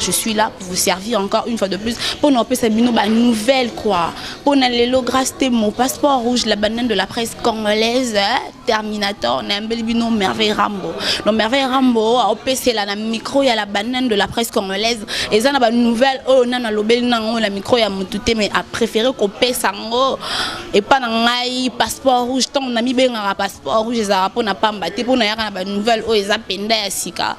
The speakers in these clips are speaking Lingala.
je suis là pour vous servir encore une fois de plus pour nous appeler bino ba nouvelle quoi pour na lelo grâce te mon passeport rouge la banane de la presse congolaise hein, terminator na mbeli bino merveille rambo no merveille rambo appeler la micro ya la banane de la presse congolaise et ça na ba nouvelle oh na na lobeli na ngo la micro ya mutu te mais a préféré ko pesa ngo et pas na ngai passeport rouge tant na mi benga passeport rouge ezara pona pamba te pona yaka na ba nouvelle oh eza penda ya sika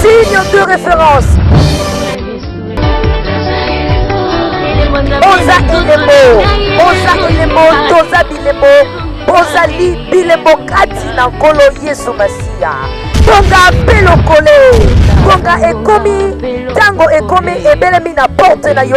Signe de référence. Oza Ilebo, Oza Ilebo, Toza Bilebo, Ozali Bilebo kati na Nkolo Yesu Masiya. Tonga mpe lokole, tonga ekomi, ntango ekomi ebelemi na porte na yo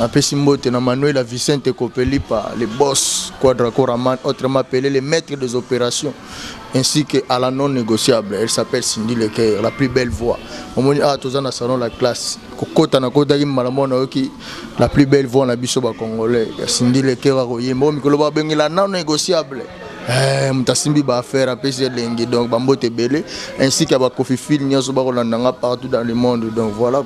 Napesi mbote na Manuela Vicente Kopelipa, le boss Quadra Koraman, autrement appelé le maître des opérations, ainsi que à la non négociable. Elle s'appelle Cindy Lecoeur, la plus belle voix. Omoni ah toza na salon la classe. Kokota na kotaki malamu na yoki la plus belle voix na biso ba congolais. Ya Cindy Lecoeur akoyemba mikolo ba bengi la non négociable. Eh, moto asimbi baaffaire apesi elengi donc bambote ebele ainsi ke bakofi fil nyonso bakolanda nga partout dans le monde donc voilà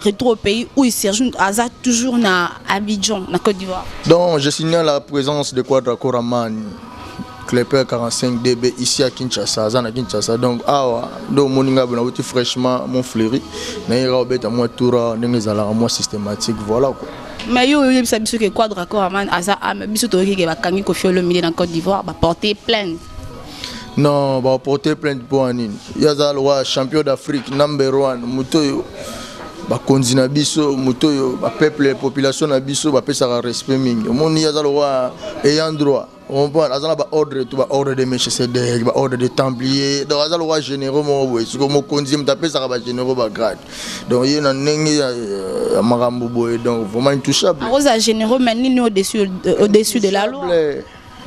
Retour au pays où Serge Aza toujours na Abidjan, na Côte d'Ivoire. Donc, je signale la présence de Quadra Koraman, Klepper 45 DB ici à Kinshasa, Aza na Kinshasa. Donc, awa, do moninga bona wuti fraîchement mon fleuri, na ira obeta moi toura, ndenge zala moi systématique, voilà quoi. Mais yo oyebisa biso que Quadra Koraman aza ame biso toyoki ke bakangi Koffi Olomide na Côte d'Ivoire, ba porter plainte. non baporte plainte mpo ya nini ye aza lokola champion d'afrique number one moto oyo bakonzi na biso moto oyo bapeuple population na biso bapesaka respect mingi omoni ye aza lokola ayant droit comprendre aza na baordre to baordre de melchisedek baordre de templier donc aza lokola généraux moko boye siko mokonzi moto apesaka bagénéraux bagrade donc ye na ndenge ya euh, makambo boye donc vraiment intouchable akozala généraux mais nini au-dessus de la loi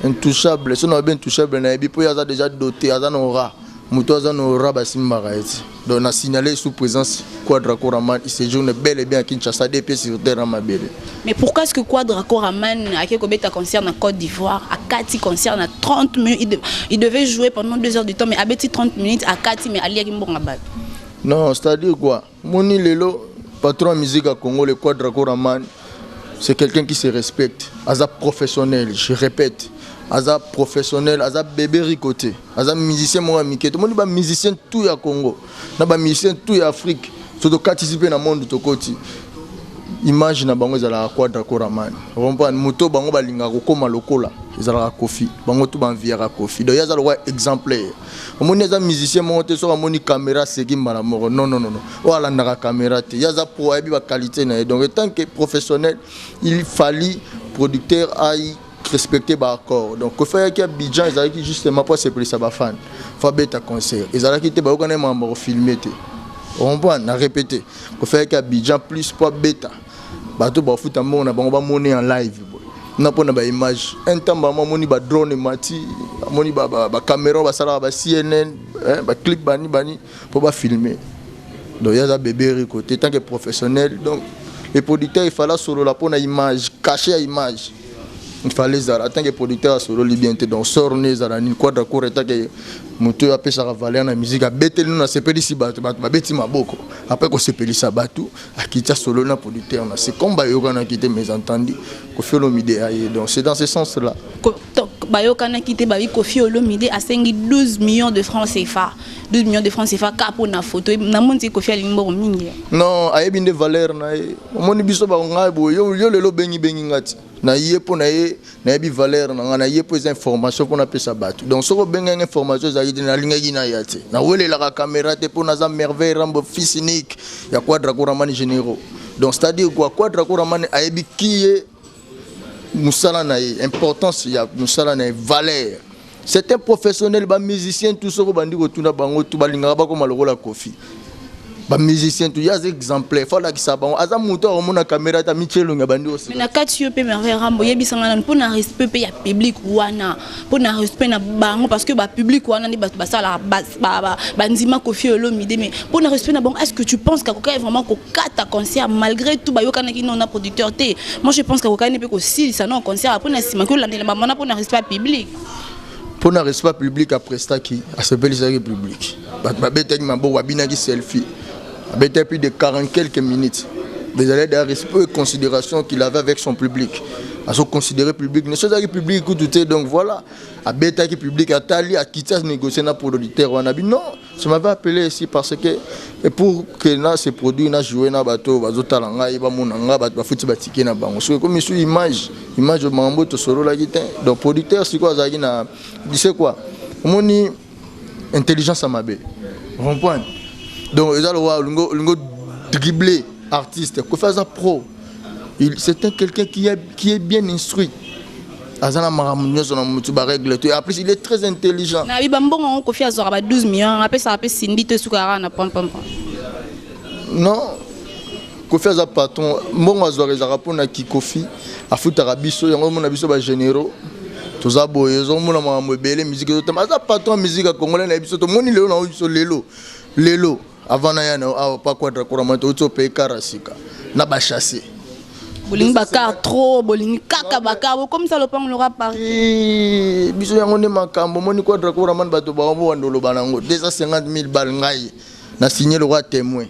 intouchable soki nayebi intouchable nayebi mpo ye aza déjà dote aza na ora moto aza na ora basimbaka ye ti donc na signale sous présence quadra coraman il séjourne bel et bien à kinshasa de mpe sur terre na mabele mais pourquoi ce que quadra coraman ake kobeta concert na côte d'ivoire akati concert na 30 minutes il, de, il devait jouer pendant 2 heures du temps mais abeti 30 minutes akati mais aliaki mbongo ya bato non c'est à dire quoi Moni lelo patron ya musique ya Congo le Quadra Koraman c'est quelqu'un qui se respecte, aza professionnel, je répète. aza professionnel aza bebe rico te aza musicien moko ya mike tomoni bamusicien tout ya congo na bamusicien tout ya afrique so tokatisi mpe na monde tokoti image na bango ezalaka quadra coramani comprendre moto bango balingaka kokóma lokola ezalaka kofi bango tu banviyaka kofi donc ye aza lokola exemplaire omoni aza musicien moko te soki amoni camera aseki mbala moko non non non oyo alandaka camera te ye aza pro ayebi baqualité na ye donc etant que professionnel il fali producteur ai respecter baaccord donc kofi ayaki abidjan ezalaki justement mpo asepelisa bafane fo abeta concert ezalaki te bayokana ye makambo ya kofilme te orompoint na répété kofi ayaki abidjan plus mpo abeta bato bafuta mbongo na bango bamoni en live na mpona baimage un temps bango amoni badrone emati amoni bacameron basalaka ba cnn baclip bani bani mpo bafilme donc ye aza bebe riko te tant que professionnel donc le producteur efale asolola mpona image cache ya image ifale ezala en tant que producteur asololi bien te donc sor ne ezala nini quadra cour en tant que moto oyo apesaka valeur na musique abeteli no nasepelisi bato bato babeti maboko apres kosepelisa bato Akiti asololi na producteur na se comme bayokanaki te mais entendu Koffi Olomide aye donc c'est dans ce sens là bayokanaki te bayi Koffi Olomide asengi 12 millions de francs CFA 12 millions de francs CFA kaka mpo na foto na moni ti Koffi alingi mbongo mingi non ayebi nde valeur na ye omoni biso bangai boye yo lelo obengi bengi ngati na ye mpo na ye nayebi valeur na ngai na ye mpo eza information mpo napesa bato donc soki obengaki information ezalaki te nalingaki naya te nawelelaka caméra te mpo naza merveille rambo fils unique ya quadra koramani généraux donc c'est à dire quoi quadra koramani ayebi ki ye mosala na ye importance ya mosala na ye valeur C'est un professionnel ba musiciens tout soko bandi ko tuna bango tout balingaka bakoma lokola Kofi. Ba musiciens tout ya exemplaire faut la kisa bango aza muto a mona caméra ta michelo nga bandi aussi. Mais na kati yo pe Merveille Rambo yebisa nga nanu pona respect pe ya public wana pona respect na bango parce que ba public wana ni bato basala ba ba ba ndima Kofi Olomide mais pona respect na bango est-ce que tu penses que akoka vraiment ko kata concert malgré tout bayokanaki non na producteur te moi je pense kakokani mpe kosilisa non concert apres na nsima kiolandela bango wana mpo na respect public mpo na respect public aprestaki asepelisaki public bato babetaki maboko abinaki selfie abetaki plus de 40 quelques minutes ezalaki da respect et considération qu'il avait avec son public azoconsidere public nyonso ezalaki public kutu te donc voilà abetaki public atali akiti anegocie na producteur wana bino Tu m'avais appelé ici parce que et pour que na se produit na jouer na bato bazo tala ngai ba mona ngai bato bafuti ba ticket na bango soki comme sur image image de mambo to solo la gite donc producteur siko azaki na tu sais quoi omoni intelligence à mabe rond-point donc eza lowa lingo lingo dribbler artiste ko faire ça pro Il c'est un quelqu'un qui est qui est bien instruit. aza na makambo nyonso na motu baregle to en plus il est très intelligent na biba mbongo yango kofi azwaka ba 12 millions apesaka mpe sindi to esukaka kaka na pampampa non kofi aza patron mbongo azwaka ezalaka mpo na kikofi afutaka biso yango omona biso bagénéraux toza boye ozomona makambo ebele miziki ezotama aza patron ya miziki ya congolais na ye biso tomoni lelo na oyo biso lelo lelo Avant na ya na yo awa pa quadra kura mwa touti ope kara sika na ba chasser. Bolingi ba car trop, bolingi kaka ba car, bokomisa lopango loka parti. Eh, biso yango nde makambo moni quadra kura mwa bato ba ombo wando loba na ngo 250000 bal ngai na signer loka témoin.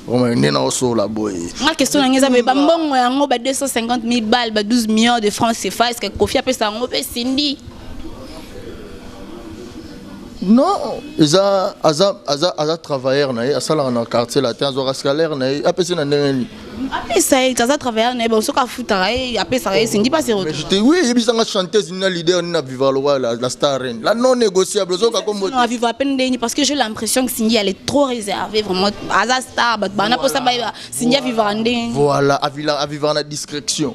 Roma nde na osola boye. Ma question na ngeza ba mbongo yango ba 250000 bal ba 12 millions de francs CFA est-ce que Kofi apesa yango pe Cindy? non eza aza aza aza travailleur na ye asalaka na quartier latin azwaka scalaire na ye apesi na ndenge nini apesa ye aza travailleur na ye soki afutaka ye apesaka ye sindi pasi retourte oui eyebisanga chanteuse nina leader nina viva lowa la, la star reine la non négociable ozoka kombo non viva peine ndeni parce que j'ai l'impression que Cindy elle est trop réservée vraiment aza star bato bana posa ba Cindy avivaka ndeni voilà avivaka na discrétion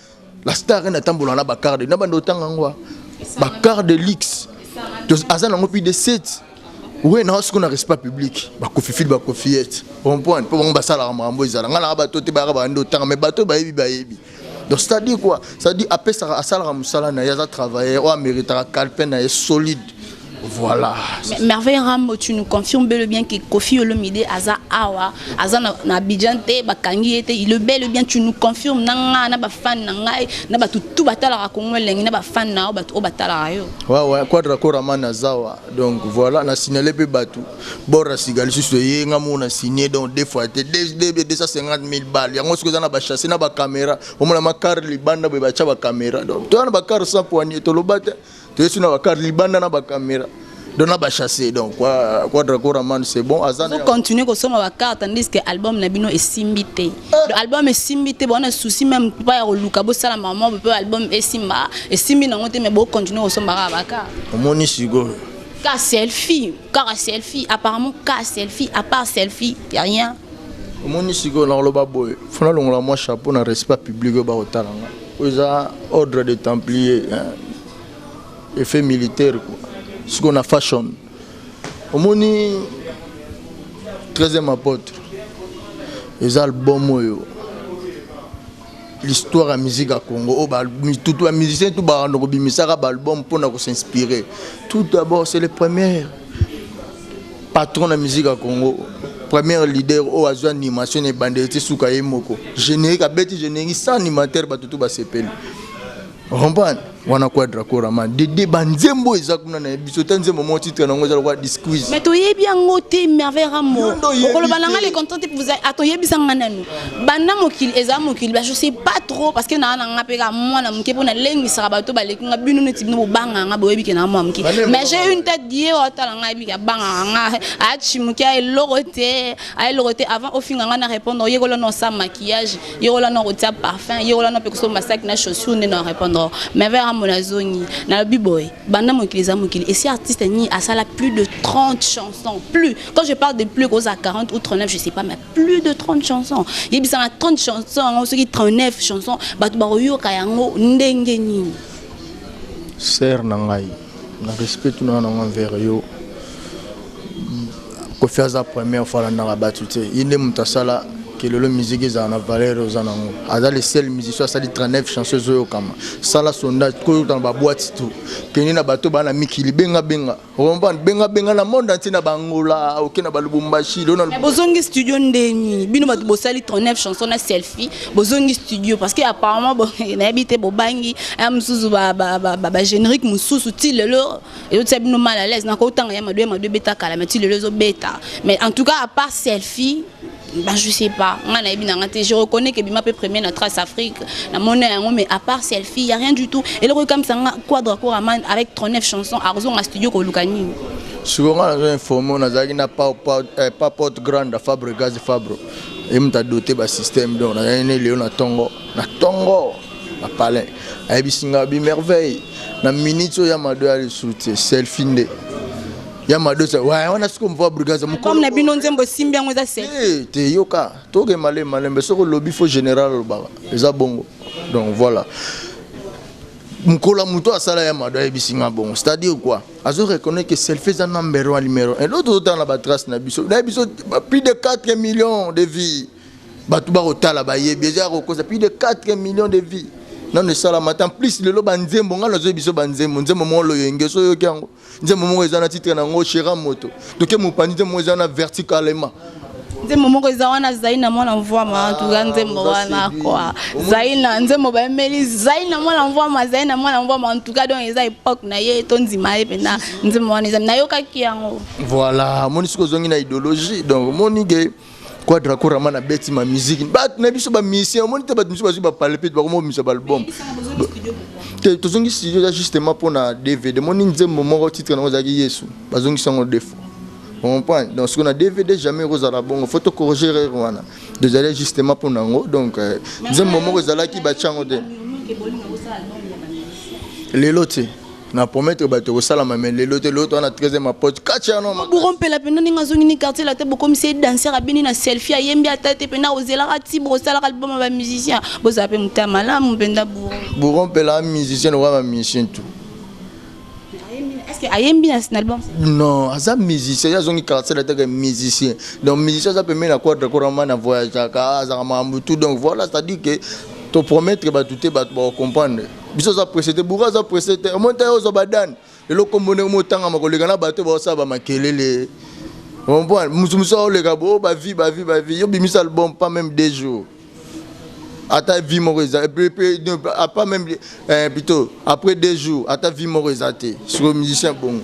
la star ena tambola na ba quart de na bande otanga ngwa ba quart de luxe aza nango plus de 7 oui na sikoyo na respect public bakofifili bakofiyete comprendre mpo bango basalaka makambo ezala ngai naka bato te bayaka bande otanga mais bato bayebi bayebi donc c'est-à-dire quoi c'est-à-dire apesaka asalaka mosala na ye aza travailleur oyo ameritaka calpe na ye solide Voilà. Merveille Rambo, tu nous confirmes bel et bien que Kofi Olomide aza awa, aza na, na Abidjan te, bakangi ete, il est bel et bien tu nous confirmes nanga na ba fan na ngai, na ba tout batala ka Congo lengi na ba fan na ba tout batala yo. Ouais ouais, quadra korama na zawa. Donc voilà, na signaler pe batu. Bora sigali susu ye nga mo na signer donc deux fois te 250 000 balles. Yango ce que na ba chasser na ba caméra, au moins ma car libanda ba cha ba caméra. Donc toi na ba car sans poignée, to lobate. toyesi na bakar libanda na bakamera donc na bachasse donc quadracoraman c'est bon azacontinue kosomba bacarte andiske album na bino esimbi te eh. album esimbi te bawana souci meme pa ya koluka bosala mama mpe album esimba esimbi nango te mais bocontinue kosomba kaka bacarte omoni sikoyo ka selfie kaka selfie apparemment ka selfie à part selfie ya rien omoni sikoyo nakoloba boye fona longola mwa chapeau na respect public oyo bakotala ngai Oyo eza ordre de templier effet militaire quoi sikoyo na fashion omoni 13e apôtre eza album oyo l'histoire ya musique ya congo oyo oh, bamusicien tu bakanda kobimisaka baalbum mpona kosinspire tout d'abord c'est le premier patron na musique ya congo première leader oyo azwi animation na ebandeli ti suka ye moko générique abeti générique sans animateur bato tu basepeli comprendre wana quadra korama dede banzembo eza kuna na biso ta nzembo moko titre nango eza lokola disquise mais toyebi yango te merveille ramo okoloba na ngai le contrat te ah, toyebisa ngai nanu banda mokili ezala mokili ba je sais pas trop parce que naa na nga mpe kaka mwana moke mpo nalengisaka bato baleki nga bino neti bino bobangaka nga boyebi ke naa mwana moke mais j'ai une tête die otala nga yebi ke abangaka nga acimuki a eloko te a eloko te avant ofinga nga na répondre oyekola na osa maquillage yekola na kotia parfum yekola na mpe kosomba saki na chaussure nde na répondre mais vers amona azongi nalobi boye banda mokili eza mokili esi artiste nini asala plus de 30 chansons plus quand je parle de plus kozala 40 ou 39 je sais pas mais plus de 30 chansons yebisa na 30 chansons yango soki 39 chansons bato bakoyoka yango ndenge nini ser na ngai na respect tuna nango envers yo kofi aza première fois alandaka bato te ye nde moto asala ke lelo miziki ezala na valeur oza nango aza le seul musicien asali 39 chanson ezoyokama sala sondage koyokana babwati to kende na bato baa na mikili bengabenga Comprendre benga benga na monde entier na bangola oke na balubumbashi lona Mais bozongi studio ndeni bino bato bosali 39 chansons na selfie bozongi studio parce que apparemment bo nayebi te bobangi ya mususu ba ba ba, ba, ba générique mususu ti lelo ezotia bino mal à l'aise na kotanga ya madoya madoya beta kala mais ti lelo ezobeta mais en tout cas à part selfie Bah, je sais pas. Nga na ebina ngate, je reconnais que bima peut premier na trace Afrique, na mona yango mais à part selfie, y a rien du tout. Et le comme ça nga quadra koraman avec 39 chansons à raison à studio ko lukani. Siko nga na informer na zaki na pa pa eh, pa porte grande Fabre Gaz Fabre. Et mta doté ba système donc na ne leo na tongo, na tongo. Na palais. Ayebisi nga bi merveille. Na minute ya mado ya le soutien, selfie nde. ya madosa waya wana siko mvua brigade mokolo na bino nzembo esimbi yango eza se eh, te yoka toke male malembe soko lobi fo général alobaka eza bongo donc voilà mokolo ya moto asala ya mado ayebisi nga bongo c'est-à-dire quoi azo reconnaître que selfie eza number one numéro un lelo tozotala na batrace na biso na biso plus de 4 millions de vies bato bakotala bayebi eza ya kokosa plus de 4 millions de vies nano esalama te en plus lelo banzembo ngai nazoyebi biso banzembo nzembo moko loyenge so oyoki yango nzembo moko eza na titre na yango chera moto toke mopanzi nzembo moko eza na verticalement nzembo moko eza wana zaina mwana mvwama ah, tuka nzembo wana kwa zaina nzembo bayemeli zaina mwana mvwama zaina mwana mvwama ntuka donc eza epoke na ye tondima ye mpenza nzembo wana eza nayokaki yango voilà moni soki ozongi na idéologie donc moni ke Quadra Kurama na beti ma musique bato na biso ba musiciens omoni te bato mosusu bazwi bapalpe bakomomisa baalbum te tozongi studio eza justement mpo na dvd moni nzembo moko titre nango ezalaki yesu bazongisi yango deux fois comprendre donc soki na dvd jamais ekozala bongo fo tocorrige rere wana ezali justement mpo na yango donc euh, nzembo moko ezalaki batya yango te lelo te na promettre bato ekosalama me lelo te loto wana tresième apote katianoburo mpela mpenza ndenge azongi ni quartier late bokomisi ye danser abini na selfie ayembi ata te mpenza ozelaka ti bokosalaka liboma ba musicien bozala mpe motema malamu mpenza buro buro mpela musicien lokola ba musicien tout ayembi na album non aza musicien ye azongi quartier lateke musicien donc musicien aza pembeni na quadre korama na voyageaka azaka makambo tout donc voilà c'est à dire que topromettre bato te bato bakocomprendre biso oza presse te boura aza presse te omoni tayo ozwa badane lelo kombo ndenge motangama koleka na bato baosala bamakelele ompoint mosu mosu aoleka bo bavi bavi bavi yo bimisa album pas même deux jours ata vie moko eza pas même eh, plutôt après deux jours ata vie moko eza te sikoyo musicien bongo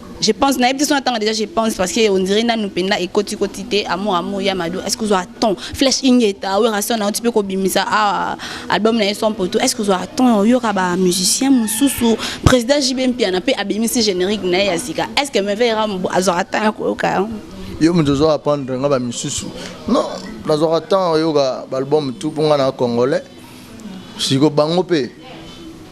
Je pense, na ebiti sona tanga déjà je pense parce que on dirait nanu penda et koti koti te amour amour ya mado. Est-ce que vous avez temps? Flash ingeta, oui rason na tu peux ko bimisa ah album na son poto. Est-ce que vous avez temps? Yo ka ba musicien mususu président JB Mpiana pe abimisi générique na ya sika. Est-ce que me verra azora temps ko ka? Yo mutu zo apprendre nga ba mususu. Non, nazora temps yo ka ba album tout pour nga na congolais. Siko bango pe.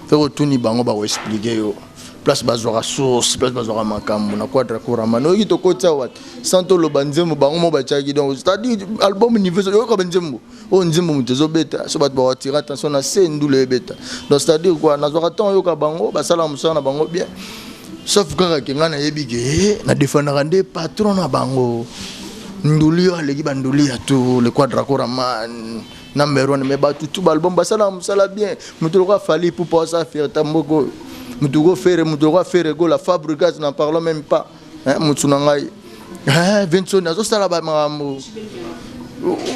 Pe ko tuni bango ba ko expliquer yo. place bazwaka source place bazwaka makambo na quadra kurama noyoki tokoti awa sans toloba nzembo bango mo batyaki donc c'est-à-dire album niveau oyoka banzembo oyo nzembo moto ezobeta so bato bawatira attention na se ndula ebeta donc c'est-à-dire kua nazwaka ntango oyoka bango basalaka mosala na bango bien sauf kaka ke ngai nayebi ke eh, na defendaka nde patron na bango nduli oyo aleki banduli ya tour le quadra kuraman na meron me bato tu balbum basalaka mosala bien moto lokola fali pupa osa fierta mboka oyo moto ko fere moto lokola fere gola fabrigas na parlant meme pas motu na ngai eh, vinsoni azosala bamakambo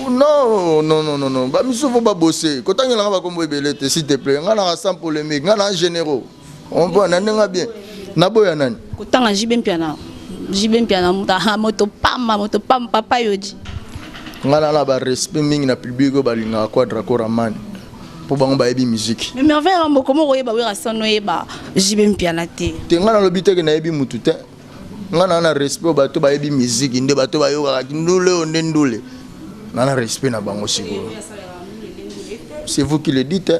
non non non non non bamisusu fo babose kotangela nga bakombo ebele te s'il te plaît nga naka sans polémique nga na généraux On voit na ndenge bien. Na boya nani? Kotanga JB Mpiana. JB Mpiana ah, moto pamba, moto pamba papa yoji. Ngana na ba respect mingi na public oyo balingaka Quadra Koraman. Po bango bayebi musique. Mais merveille ya mboko moko yeba wera sono yeba JB Mpiana te. Te ngana lobi te ke na yebi mutu te. Ngana na respect bato bayebi musique nde bato bayokaka kindule oyo nde ndule. Ngana respect na bango sikoyo. C'est vous qui le dites. Hein?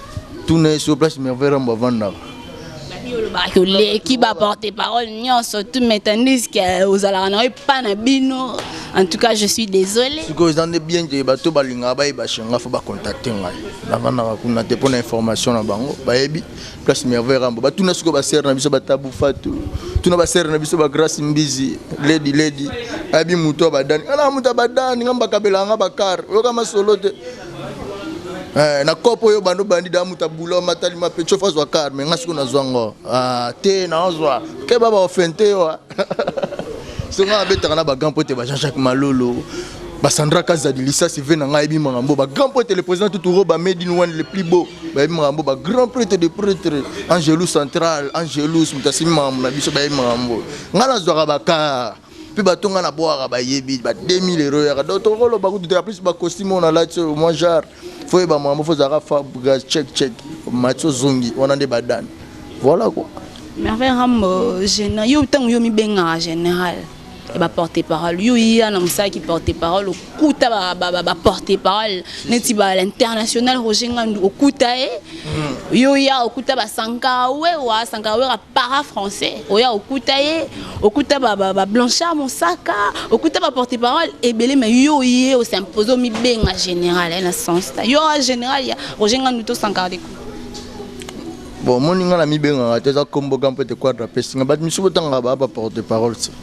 tuna ye so place merveille rambo avandaka olobaki oleki baporte parole nyonso tu metandise ke ozalaka na yo epa na bino en tout cas je suis désolé sikoyo eza nde bien te bato balingaka bayeba shenga fo bacontacte ngai navandaka kuna te mpo na information na bango bayebi place merveille rambo batuna sikoyo basere na biso batabu fatu tuna basere na biso bagrace mbizi ledi ledi ayebi moto ya badani ana moto ya badani nga mbakabelaka nga bakar oyoka masolo te Eh, na kopo oyo bando bandi da muta bulo matali ma pecho fa zwa car mais ngasi kuna zwa ngo ah te na zwa ke baba ofente yo songa abetaka na ba grand pote ba Jean-Jacques Malolo basandra kazadi lisasi ve na ngai yebi makambo ba grand prêtre le président tuturo ba made in one le plus beau bayebi makambo ba grand prêtre de prêtre angelus central angelus moto asimi makambo na biso bayebi makambo ngai nazwaka bakar mpe bato ngai nabwaka bayebi ba 2000 euro yaka donc tokoloba kutu te en plus bacostume oyo nalati oyo mwa genre fo oyeba makambo fo ozalaka fabgas check check mati ozongi wana nde badani voilà quoi merveille rambo général yo ntango yo mibengaka général ya baporte parole yo ya na mosala ki porte parole okuta baporte parole neti bainternational roger ngandu okuta ye hmm. yo ya okuta basankara wewa sankara wera para français oya okuta ye okuta ba, ba, ba blanchard mosaka okuta ba porte parole ebele me yo ye osimpose omibenga général eh, na sens ta yo général ya roger ngandu to sankarde ku bon omoni ngai namibengaka te eza kombo ga mpo ete quadre apesi ngai bato misusu botangaka baa ba porte parole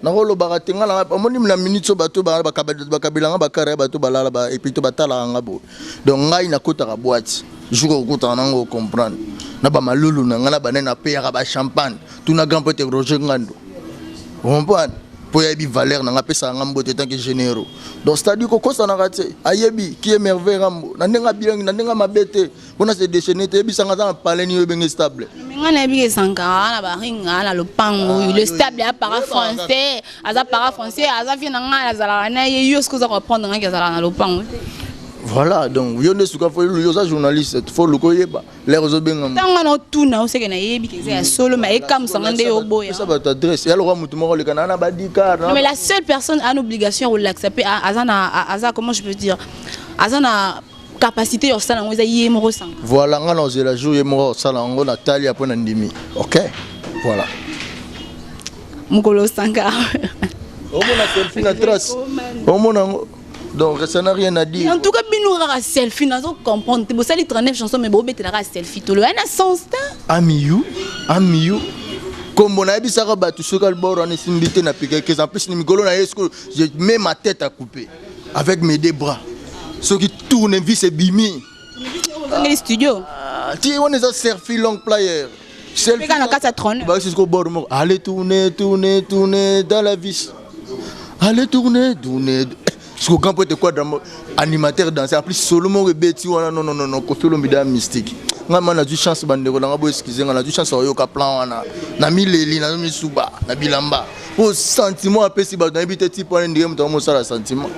Nako lobaka te nga na nga omoni na minutes oyo bato ba ba kabila ba kabila nga ba kara bato ba lala ba et puis to ba talaka nga boye donc ngai na kotaka boite jour okutana na ngo comprendre na ba malulu na nga na bane na payaka ba champagne tout na grand pote Roger Ngandu comprendre po yebi valeur na nga pesa nga mbote tant que généraux donc c'est à dire ko kosanaka te ayebi qui est merveille rambo na ndenge abiangi na ndenge mabe te mpona se déchaîner te yebisanga aza na palais nini oyebenge stable nga nayebi ke sankara na baringa na lopango oyo ah, le stable ya para français aza para français aza vie na ngai azalaka na ye yo soki oza koprendre ngai ke azalaka na lopango te voilà donc yo nde suka fo yo oza journaliste fo luka oyeba lere ozobenga ntango wana otuna oseke nayebi ke eza ya solo ma ekamusanga nde oboyaesa bato adresse ya lokola motu moko olekana na badikar mais la seule personne a na obligation ya kolakisa mpe aza na aza comment je peux dire aza na capacité ya kosala yango eza ye moko osanga voilà ngai naozela jour ye moko akosala yango natali apres na ndimi ok voilà mokolo osanga omona selfie na trace omona yango donc ça n'a rien à dire en tout cas bino kaka selfie nazo comprendre te bosali 39 chanson mais bobetela kaka selfie tolo yana sens te amiyu amiyu kombo nayebisaka bato soki albor wana esimbi te na pikekes en plus na mikolo na ye je mets ma tête à couper avec mes deux bras soki tournevis ebimi ozongeli studio ah, ti wana eza serfi long player peka na kati ya trone bayosi siko bord moko allez tourne tourne tourne dans la vis allez tourne tourne siko grand poete quadra animateur danse apli solo moko ebeti wana nononono kofi olomida mystique ngai ma nazwi chance bandeko na ngai boeskize ngai nazwi chance ya koyoka plan wana na mileli nazo misuba na bilamba po sentiment apesi bato nayebi te type wana ndenge moto yango mosala sentiment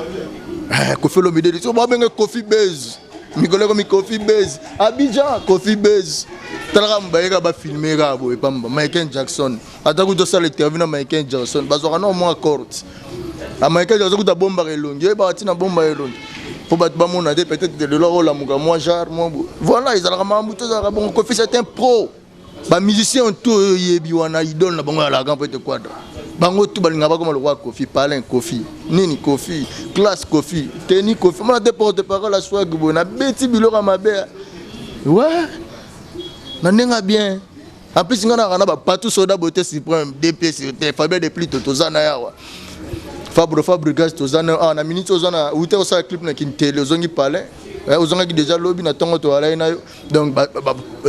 eh, kofi olomide de so babenge kofi base mikolo ekomi kofi base abidjan kofi base talaka mobayeka bafilme kaka boye pamba michael jackson ata kutu osala interview na michael jackson bazwaka nao mwa corte ah, michael jackson kutu abombaka elongi oyebaka ntina abombaka elongi mpo bato bamona te peut-être lelo olamuka mwa genre mwa voilà ezalaka makambo te ezalaka bongo kofi c'est un pro ba musiciens tout oyo yebi wana idole na bango ya lagan peut être quadra bango tout balinga bakoma lokola kofi palin kofi nini kofi classe kofi teni kofi mona te porte parole ya swag boye nabeti biloko ya mabe we na ndenge ya bien en plus ngai naka na bapatou soda bote supreme dps te fabien de plito toza na yawa fabro fabrigas toza na awa na minute oza na ute osala clip na kintele ozongi palin eh, ozongaki deja lobi na ntongo toalai na yo donc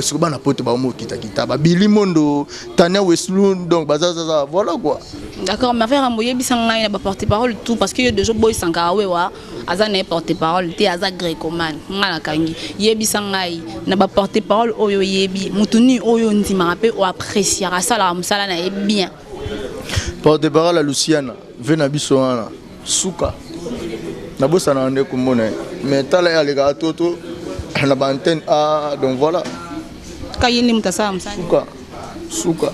siko bana poto baomokitakitaa babili mondo tania weslu donc bazazaza voilà quoi d'accord ma frère ambo yebisa ngai na baporte parole tout parce que yo deja oboyisanga awewa aza na ye porte parole te aza grecomane ngai nakangi yebisa ngai na baporte parole oyo oyebi moto nini oyo ondimaka mpe oapreciaka asalaka mosala na ye bien Porte parole ya Luciana, vie na biso wana suka. Nabosana nde komona ye. Mais tala ye alekaka to to na ba antenne ah donc voilà. Kaye nde mutasala musala. Suka. Suka.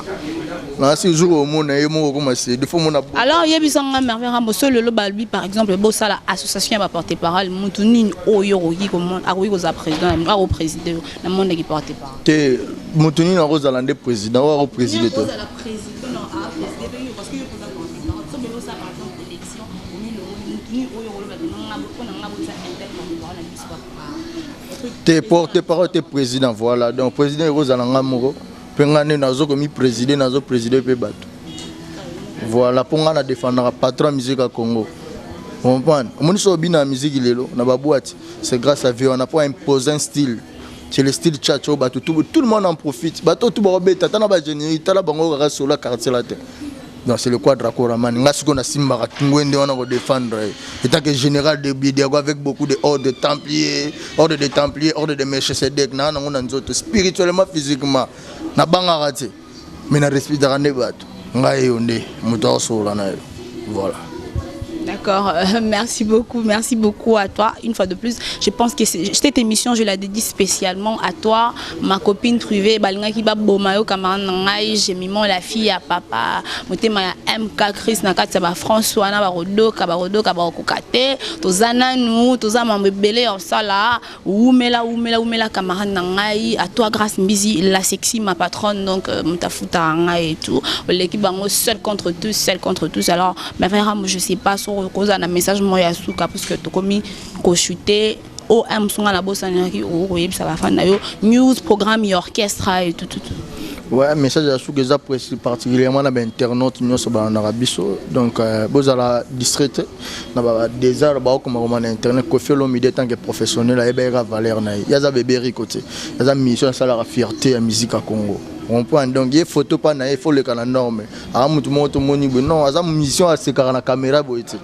Na si jour omona ye moko koma se de faut mona. Alors yebisa nga Merveille Rambo so lelo balbi par exemple bosala association ya ba porte parole mutu nini oyo okoki komona akoki kozala président ya ako président na monde ki porte parole. Te mutu nini akozala nde président oyo ako président to. te porte parole te président voilà donc président ekozala nga moko mpe nga nde nazo komi préside nazo préside mpe bato voilà mpo nga na défendaka patron ya musique ya congo comprendre omoni so obina ya musique lelo na babwati c'est grâce à vie wana mpo impose un style c'est le style tchatch oyo bato tout le monde en profite bato tout bakobeta ata na bagénérie tala bango kaka sola quartier la te donc c'est le quadra coramani nga sikoyo nasimbaka ngwende wana kodefendre ye etake général de bidiago avec beaucoup de ordre de templier ordre de templier ordre de melchisedek naa nango na nzoto spirituellement physiquement nabangaka te mais na respectaka nde bato ngai yo nde moto aosolola na yo voilà D'accord, euh, merci beaucoup, merci beaucoup à toi. Une fois de plus, je pense que cette émission, je la dédie spécialement à toi, ma copine Truvé, Balinga Kiba Bomayo, camarade Nangai, j'ai mis la fille à papa, motema ya MK, Chris Nakatsa, ba François, na ba Rodo, Kabarodo, Kabarokokate, tozana nous, tozama mbebele, on sala, Wumela wumela wumela camarade na ngai à toi Grace Mbizi la sexy ma patronne donc euh, mutafuta ngai et tout oleki bango seul contre tous seul contre tous alors mais vraiment je sais pas sur cause un message moi ya suka parce que tokomi ko shooter o un musunga na bosanaki o koyebisa ba fan na yo news programme ya orchestre et tout tout Ouais, message ya suka eza particulièrement na ba internautes nyonso ba na biso donc euh, bozala distraite na ba desert ba okoma koma na internet Koffi Olomide tant que professionnel ayebaki ka valeur na ye yaza bebe Rico te yaza mission asalaka fierté ya musique ya Congo comprendre donc ye photo pa na ye faut leka na norme aa mutu moko tomoni boye non aza mission asekaka na caméra boye te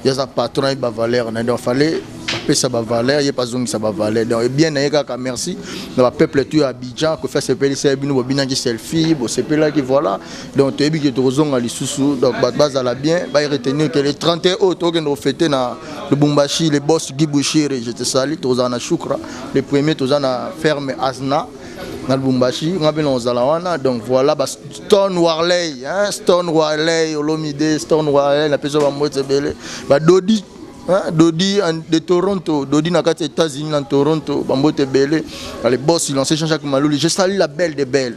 yaza patron ayebi ba valeur na ye donc fallait apesa ba valeur ye pazongisa ba valeur donc et bien na ye kaka merci na ba peuple tout ya Abidjan Koffi asepelisa ye bino bobinaki selfie bosepelaki voilà donc toyebi ke tokozonga lisusu donc bato bazala bien baye retenir ke le 31 oyo tokokende kofete na lubumbashi le boss gibushiri je te sali tokozala na shukra le premier toza na ferme asna na lubumbashi nga mpe nakozala wana donc voilà ba stone warley hein? stone warley olomide stone warley napesa bambote ebele badodi Hein, Dodi en, de Toronto, Dodi na kati États-Unis na Toronto, bambote ebele, les boss, il en sait Jean-Jacques Malouli, je salue la belle des belles.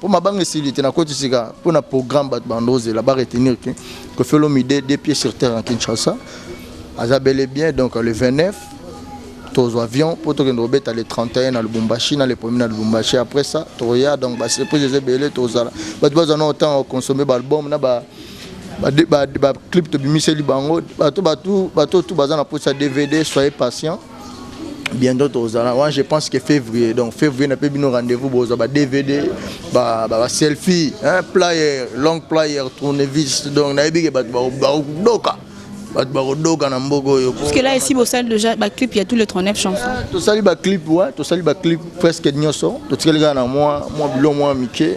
Po mabanga esili te na koti sika po na programme bat bando zela ba retenir que que felo mide des pieds sur terre en Kinshasa aza bel et bien donc le 29 tozo avion po to kendo beta le 31 na Lubumbashi na le premier na Lubumbashi après ça to ya donc ba surprise ze belé to zala bat bazo na autant au consommer ba album na ba ba ba, ba clip to bimiseli bango bato bato bato tout baza na posa DVD soyez patient bientôt tozala wana je pense que février donc février na mpe bino rendez-vous bozwa ba dvd ba, ba, ba selfie hein, player long player tournevis donc nayebi ke bato bakodoka bato bakodoka na mboka oyo puisque là esi bosali déjà baclip ya tous les 39 chansons ah, tosali baclip wa tosali baclip presque nyonso totikali kaka na mwa mwa bilo mwa mike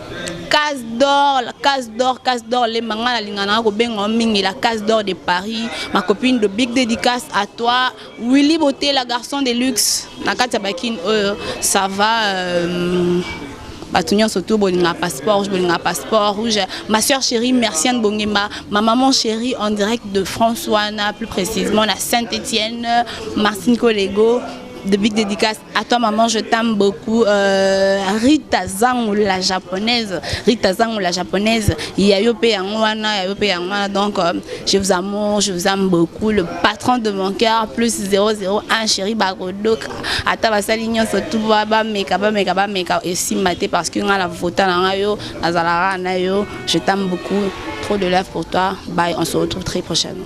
case d'or la case d'or case d'or lemba ngai nalinganaka kobenga mingi la case d'or de paris ma copine de big dédicace à toi willy beauté la garçon de luxe na kati ya bakine oyo ça va euh, bato nyonso tu bolinga passeport rouge bolinga passeport rouge ma soeur chérie merciane bongemba ma maman chérie en direct de france wana plus précisément na saint étienne martine collego de big dédicace À toi maman, je t'aime beaucoup. Euh, Rita Zango la japonaise, Rita Zango la japonaise, Yayope Yangwana, Yayope Yangwana. Donc euh, je vous amour, je vous aime beaucoup. Le patron de mon cœur plus 001 chéri Bagodo. Ata basali nyonso tout ba ba meka ba meka ba meka et si maté parce que nga la vota na nga yo, azalaka na yo. Je t'aime beaucoup. Trop de love pour toi. Bye, on se retrouve très prochainement.